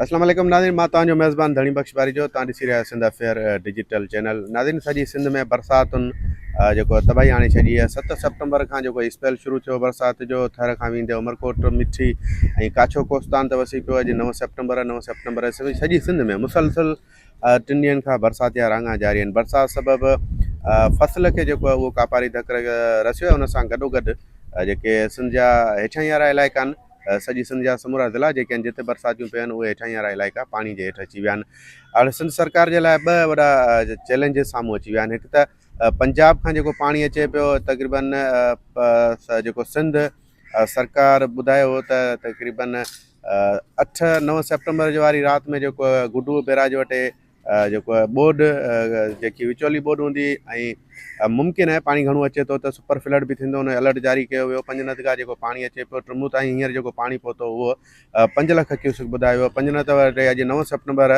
اسلام عليڪم ناظرين مان توهان جو ميزبان ڌڻي بخش پاريجو توهان ڏسي رهيا آهيو سنڌ افيئر ڊجيٽل چينل ناظرين سڄي سنڌ ۾ برساتن جيڪو تباهي آڻي ڇڏي آهي ست سيپٽمبر کان جيڪو اسپيل شروع ٿيو برسات جو ٿر کان ويندي عمرڪوٽ مٺي ۽ ڪاڇو ڪوستان ته وسي پيو اڄ نو سيپٽمبر نو سيپٽمبر سڄي سنڌ ۾ مسلسل ٽن ڏينهن کان برساتيا راڱا جاري آهن، برسات سبب فصل کي جيڪو اهو ڪاپاري ڌڪ رسيو آهي ان سان گڏوگڏ جيڪي سنڌ جا هيٺاهين وارا علائقا آهن سڄي سنڌ جا سمورا ضلعا جيڪي آهن جتي برساتيون پيون آهن اهي هيٺاهين وارا علائقا پاڻي جي هيٺ اچي ويا آهن هاڻي سنڌ سرڪار جي لاء ٻه وڏا چئلينجز سامهون اچي ويا آهن هڪ ته پنجاب کان جيڪو پاڻي اچي پيو تقريبن جيڪو سنڌ سرڪار ٻڌايو هو ته تقريبن اٺ نو سيپٽمبر جي واري رات ۾ جيڪو گڊو بيراج وٽ جيڪو ٻوڏ جيڪي وچولي ٻوڏ هوندي ۽ ممڪن آهي پاڻي گهڻو اچي ٿو ته سپر فلڊ به ٿيندو ان جو الرٽ جاري ڪيو ويو پنجنت کان جيڪو پاڻي اچي پيو ٽرمون تائين هينئر جيڪو پاڻي پهتو هو پنج لک ڪيوسڪ ٻڌايو ويو پنجنت وٽ اڄ نو سيپٽمبر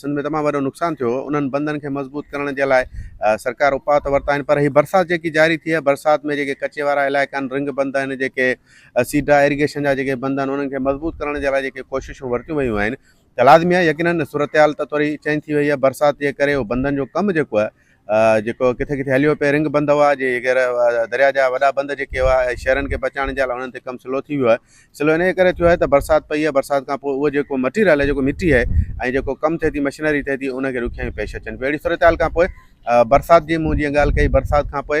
سنڌ ۾ تمام وڏو نقصان ٿيو هو انهن بندن کي مضبوط ڪرڻ جي لاء سرڪار اپاء ته ورتا آهن پر هي برسات جيڪي جاري ٿي آهي برسات ۾ جيڪي ڪچي وارا علائقا آهن رنگ بند آهن جيڪي سيڊا ايريگيشن جا جيڪي بند آهن انهن کي مضبوط ڪرڻ جي لاء جيڪي ڪوششون ورتيون ويون آهن ته لازمي آهي يقينن صورتحال ته ٿوري چينج ٿي وئي آهي برسات جي ڪري هو بندن جو ڪم جيڪو آهي جيڪو ڪٿي ڪٿي هليو پئي، رنگ بند هئا، جي غير درياء جا وڏا بند جيڪي هئا ۽ شهرن کي بچائڻ جي لاء انهن تي ڪم سلو ٿي ويو آهي، سلو انهيء ڪري ٿيو آهي ته برسات پئي آهي، برسات کان پوء اهو جيڪو مٽيريل آهي جيڪو مٽي آهي ۽ جيڪو ڪم ٿئي ٿي مشنري ٿئي ٿي ان کي ڏکيائيون پيش اچن پيون، اهڙي صورتحال کان پوء برسات جي مون جيئن ڳالهه ڪئي برسات کان پوء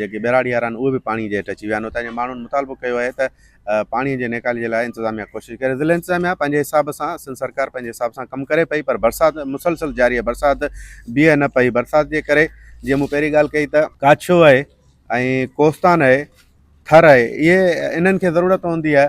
جيڪي ٻهراڙي وارا آهن اهي به پاڻي جي هيٺ اچي ويا آهن اتان جي ماڻهن مطالبو ڪيو آهي ته پاڻي جي نيڪالي جي لاء انتظاميا ڪوشش ڪري ضلعي انتظاميا پنهنجي حساب سان سنڌ سرڪار پنهنجي حساب سان ڪم ڪري پئي پر برسات مسلسل جاري آهي برسات بيهي نه پئي برسات جي ڪري جيئن مون پهرين ڳالهه ڪئي ته ڪاڇو آهي ۽ ڪوستان آهي ٿر آهي اهي انهن کي ضرورت هوندي آهي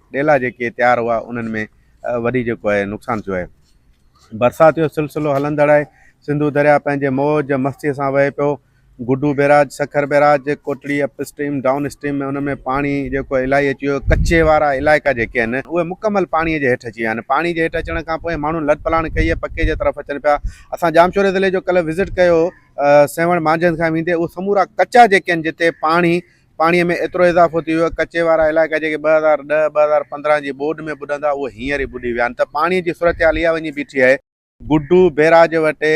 ڏيلا جيڪي تيار هئا انهن ۾ وڏي جيڪو آهي نقصان ٿيو آهي برسات جو سلسلو هلندڙ آهي سنڌو درياء پنهنجي موج مستي سان وهي پيو Guddu barrage Sukkur barrage Kotri upstream downstream ۾ ان ۾ پاڻي جيڪو الائي اچي ويو ڪچي وارا علائقا جيڪي آهن اهي مڪمل پاڻي جي هيٺ اچي ويا آهن پاڻي جي هيٺ اچڻ کان پوء ماڻهن لڏپلاڻ ڪئي آهي پڪي جي طرف اچن پيا اسان ڄامشوري ضلعي جو ڪلهه وزٽ ڪيو سيوهڻ مانجهند کان ويندي اهي سمورا ڪچا جيڪي آهن جتي پاڻي پاڻي ۾ ايترو اضافو ٿي ويو ڪچي وارا علائقا جيڪي ٻه هزار ڏهه ٻه هزار پندرهن جي ٻوڏ ۾ ٻڏندا اهي هينئر ئي ٻڏي ويا آهن ته پاڻي جي صورتحال اها وڃي بيٺي آهي گڊو بيراج وٽ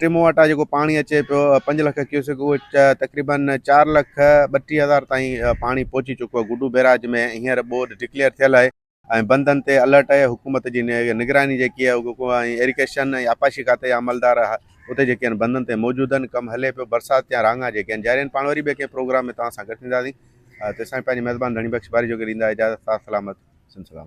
ٽمو وٽان جيڪو پاڻي اچي پيو پنج لک ڪيوسڪ اهو تقريبن چار لک ٻٽيهه هزار تائين پاڻي پهچي چڪو آهي گڊو بيراج ۾ هينئر ٻوڏ ڊڪليئر ٿيل آهي ۽ بندن تي الرٽ آهي حڪومت جي نگراني جيڪي آهي اهو ڪو ۽ ايريڪيشن ۽ آبپاشي کاتي جا عملدار اتي جيڪي آهن بندن تي موجود آهن ڪم هلي پيو برسات جا رهاڱا جيڪي آهن جاري آهن پاڻ وري ٻئي ڪنهن پروگرام ۾ توهان سان گڏ ٿينداسين ته سائين پنهنجي مهربان ڌڻي بخش واري جوڳي ڏيندا اجازت ساٿ سلامت سنڌ سلامت.